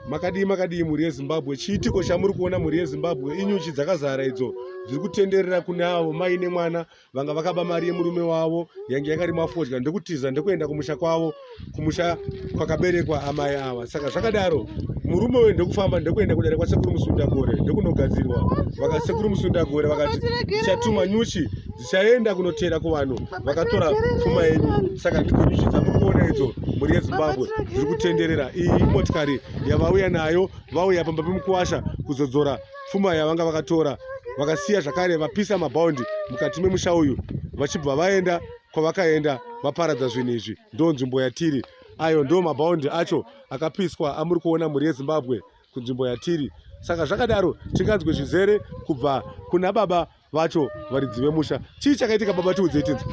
makadii makadii mhuri yezimbabwe chiitiko chamuri kuona mhuri yezimbabwe inyuchi dzakazara idzo dziri kutenderera kune avo mai nemwana vanga vakaba mari yemurume wavo yange yakarima fodya ndokutiza ndokuenda kumusha kwavo kumusha kwakaberekwa amai ava saka zvakadaro murume uyu ndokufamba ndokuenda kudare kwasekuru musundagore ndokunogadzirwa vakasekuru musundagore vakati chatuma nyuchi Tichaenda kunoteera kuvanhu vakatora pfuma yenyu saka ndigonizvidza muri kuona idzo mhuri yezimbabwe dziri kutenderera iyi imotikari yavauya nayo vauya pamba pemukuwasha kuzodzora pfuma yavanga vakatora vakasiya zvakare vapisa mabhaundi mukati memusha uyu vachibva vaenda kwavakaenda vaparadza zvinhu izvi ndo nzvimbo yatiri ayo ndo mabhaundi acho akapiswa amuri kuona mhuri yezimbabwe kunzvimbo yatiri saka zvakadaro tinganzwe zvizere kubva kuna baba vacho varidzi vemusha chii chakaitika baba tiudze tinzi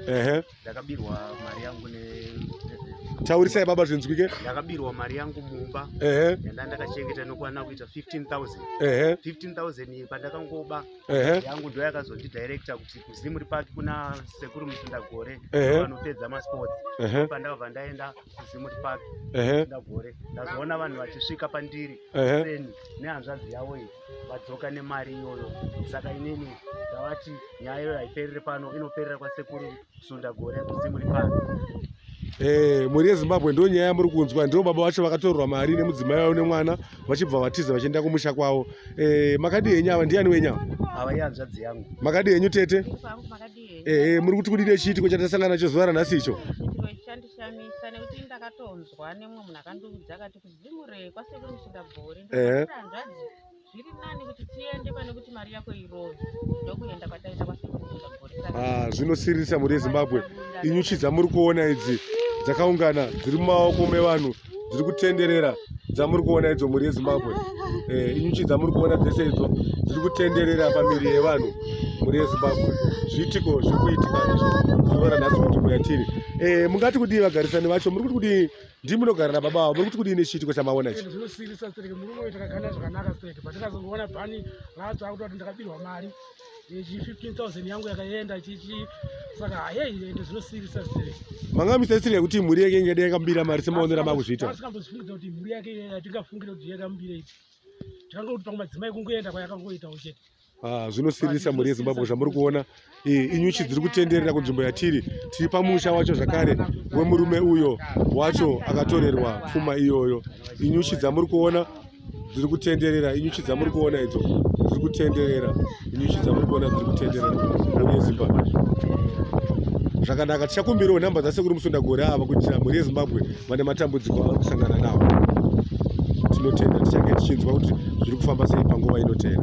ehe ndakabirwa mari yangu ne taurisai baba zvinzwike ndakabirwa mari yangu mumba ehe yanda ndakachengeta inokwana kuita 15000 ehe 15000 pandakangoba ehe yangu ndo yakazondidirecta kuti kuzimu ripaki kuna sekuru musindagore Ehe. vanopedza masports ehe pandakabva ndaenda kuzimu ripaki ehe musindagore ndazoona vanhu vachisvika pandiri ehe seni nehanzvadzi yavo iyi vadzoka nemari iyoyo saka inini ndavati nyaya iyoyo haiperere pano inoperera kwasekuru sunda gore kuzimu ripano Eh, mhuri yezimbabwe ndo nyaya yamuri kunzwa ndiro baba vacho vakatorwa mari nemudzimai vavo nemwana vachibva vatiza vachienda kumusha kwavo eh, makadii henyu ava ndiani wenyu ava ava ihanzvadzi yangu makadii henyu tete ehe eh, muri kuti kudii nechiitiko chatasangana nacho zuva ranhasi icho chandishamisa nekuti ndakatonzwa nemwe munhu akandiudza akati Ndimurei kwasekuru musingabhori. Ehe. Hanzvadzi zviri nani kuti tiende pane kuti mari yako irove ndokuenda kwataita kwasekuru musingabhori. Ah, zvinosiririsa mhuri yeZimbabwe. Inyuchi dzamuri kuona idzi dzakaungana dziri mumaoko mevanhu dziri kutenderera dzamuri kuona idzo mhuri yeZimbabwe. Eh, inyuchi dzamuri kuona dzese idzo dziri kutenderera pamiri yevanhu mhuri yeZimbabwe. Zviitiko zviri kuitika izvo zuva ranhasi kuti muyatiri. Eh, mungati kudii vagarisani vacho? Muri kuti kudii ndii munogara nababa vavo muri kuti kudii nechiitiko chamaona ichi zvinosiirisa stereke murume uyu takagana zvakanaka stereke but ndakazongoona pani vatsva akuti kuti ndakabirwa mari ichi 15000 yangu yakaenda chichi saka hayei ende zvinosiirisa stereke manga misaisirika kuti mhuri yake ingade yakambira mari semaonera makuzviita asikambozvifungidza kuti mhuri yake yatingafungire kuti yakambireiti tikangokuti pamwe madzimai kungoenda kwayakangoitawo chete Ah, zvinosiririsa mhuri yezimbabwe zvamuri kuona inyuchi dziri kutenderera kunzvimbo yatiri tiri pamusha wacho zvakare wemurume uyo wacho akatorerwa pfuma iyoyo inyuchi dzamuri kuona dziri kutenderera inyuchi dzamuri kuona idzo dziri kutenderera inyuchi dzamuri kuona dziri kutenderera mhuri yezimbabwe zvakanaka tichakumbirawo nhamba dzasekuri musundagore ava kuitira mhuri yezimbabwe vane matambudziko avari kusangana nawo tinotenda tichange tichinzwa kuti zviri kufamba sei panguva inotera